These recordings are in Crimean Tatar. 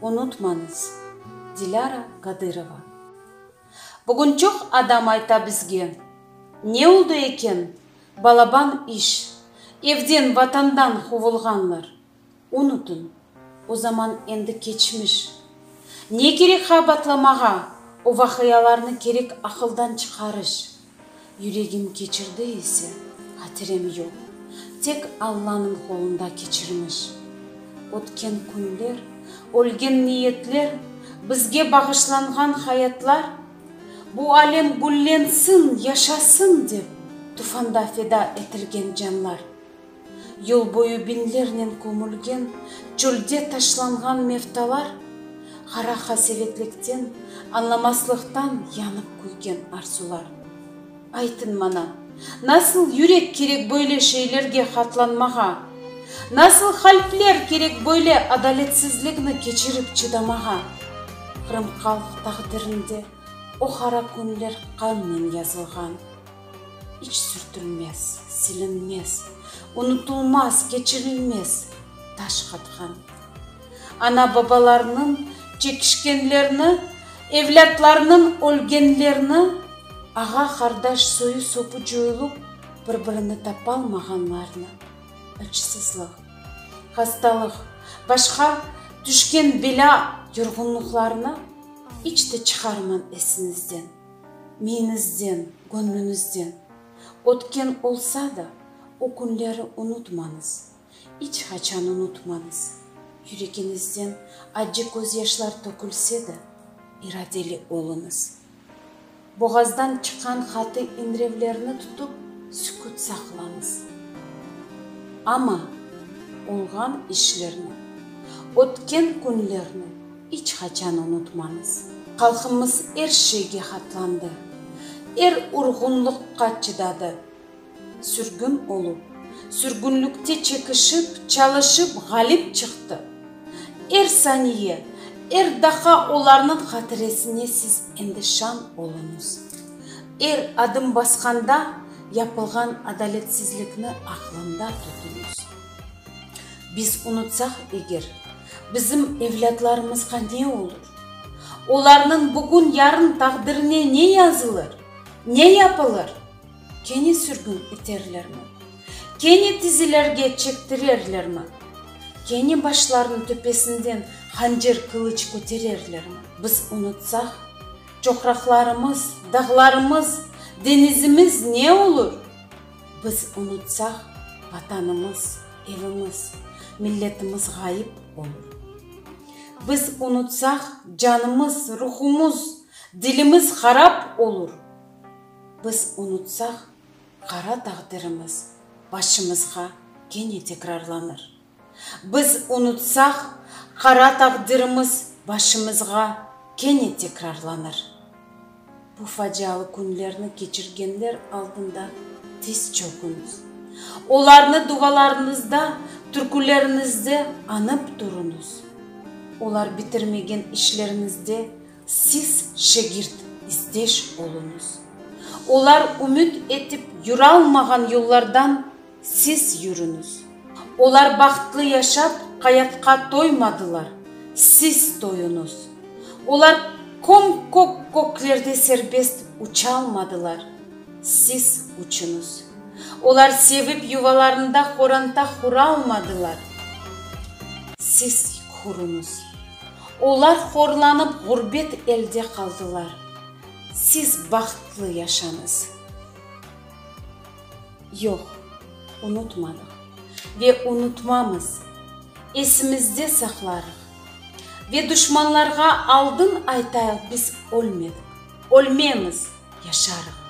Unutmañız, Dilâra Qadırova. Bugün çoq adam ayta bizge, Ne oldı eken, balaban iş, evden, Vatandan quvulğanlar. Unutıñ, o zaman endi keçmiş. Ne kerek ğaybatlamağa o vaqialarnı, kerek aqıldan çıqarış. Yüregim keçirdi ise, hatirem yoq. Tek Allanıñ qolunda keçirmiş. Ötken künler, ölgen niyetler, bizge bağışlanğan hayatlar, bu alem güllensin, yaşasın dep, tufanda feda etilgen canlar, Yıl boyu biñlernen kömülgen çölde taşlanğan mevtalar, qara qasevetlikten, añlamaslıqtan yanıp küygen arzular. Aytıñ maña, nasıl yürek kerek böyle şeylerge qatlanmağa? Nasıl qalpler kerek böyle adaletsizlikni keçirip çıdamağa? Qırımhalq taqdirinde o qara künler qannen yazılğan. İç sürtülmez, silinmez, unutulmaz, keçirilmez taş qatğan. Ana-babalarnıñ çekişkenlerini, evlâtlarnıñ ölgenlerini, ağa-qardaş soyu-sopu coyulup, bir-birini tapalmağanlarnı, açsızlıq, hastalıq, başqa tüşken belâ-yorğunlıqlarnı iç de çıqarmañ esiñizden. Miyiñizden, göñlüñizden ötken olsa da, o künleri unutmañız, iç qaçan unutmañız. Yüregiñizden accı közyaşlar tökülse de, iradeli oluñız. Boğazdan çıqqan qatı iñrevlerni tutıp, sükut saqlañız. Amma olğan işlerni, ötken künlerni. İç qaçan unutmañız. Halqımız er şeyge qatlandı, er urğunlıqqa çıdadı. Sürgün olup, sürgünlikte çekişip, çalışıp ğalip çıqtı. Er saniye, er daqa olarnıñ hatiresine siz endi şan oluñız. Er adım basqanda yapılğan adaletsizlikni aqlında tutuñız. Biz unutsaq eger, Bizim evlâtlarımızğa ne olur? Olarnıñ bugün-yarın taqdirine ne yazılır? Ne yapılır? Kene sürgün eterlermi? Kene tizilerge çektirerlermi? Kene başlarınıñ töpesinden hancer-qılıç kötererlermi? Biz unutsaq, çoqraqlarımız, dağlarımız, deñizimiz ne olur? Biz unutsaq, Vatanımız, evimiz, milletimiz ğayıp olur. Biz unutsaq, canımız, ruhumuz, dilimiz harap olur. Biz unutsaq, qara taqdirimiz başımızğa kene tekrarlanır. Biz unutsaq, qara taqdirimiz başımızğa kene tekrarlanır. Bu facialı künlerni keçirgenler aldında tiz çöküñiz. Olarnı duvalarıñızda, türküleriñizde añıp turunız. Olar bitirmegen işleriñizde siz şegirt, isdeş oluñız. Olar ümüt etip yüralmağan yollardan, Siz yürüñiz. Olar bahtlı yaşap, qayatqa toymadılar, siz toyuñız. Olar köm-kök köklerde serbest uçalmadılar, siz uçuñız. Olar sevip yuvalarında horanta huralmadılar, siz huruñız. Olar horlanıp ğurbet elde qaldılar, siz bahtlı yaşañız. Yoq, unutmadıq ve unutmamız, esimizde saqlarıq. Ve duşmanlarğa aldın aytayıq biz ölmedik, ölmemiz, yaşarıq.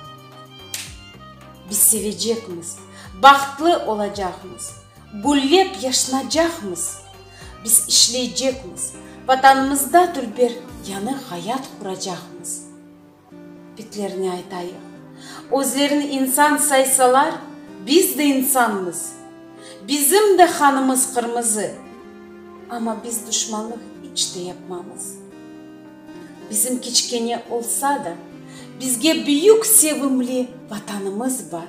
Biz sevecekmiz, bahtlı olacaqmız, güllep yaşnacaqmız. Biz işleycekmiz, Vatanımızda tülber yanı hayat quracaqmız. Bitlerine aytayıq. Özlerini insan saysalar, biz de insanmız. Bizim de qanımız qırmızı. Amma biz duşmanlıq iç te yapmamız. Bizim kiçkene olsa da, bizge büyük sevimli Vatanımız bar.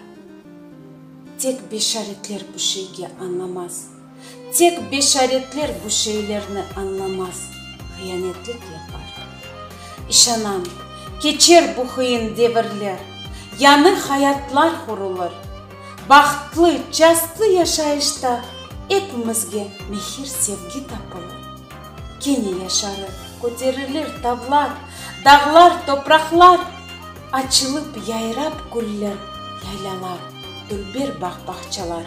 Tek beşaretler bu şeyge añlamaz. Tek beşaretler bu şeylerni añlamaz, hıyanetlik yapar. İşanam, keçer bu hıyın devirler, yañı hayatlar hurulır. Bahtlı, çastlı yaşayışta epimizge mehir-sevgi tapılır. Kene yaşarı köterilir tavlar, dağlar, topraqlar, açılıp, yayrap güller, yaylalar, dülber bağ-bağçalar.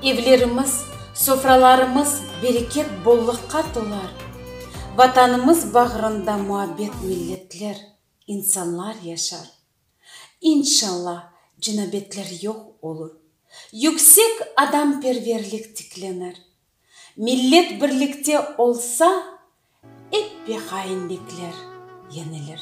Evlerimiz, sofralarımız bereket-bolluqqa tolar, Vatanımız bağrında muabbet milletler, insanlar yaşar. İnşallah, cinabetler yoq olur, yüksek adamperverlik tiklenir. Millet birlikte olsa, eppe hainlikler yenilir.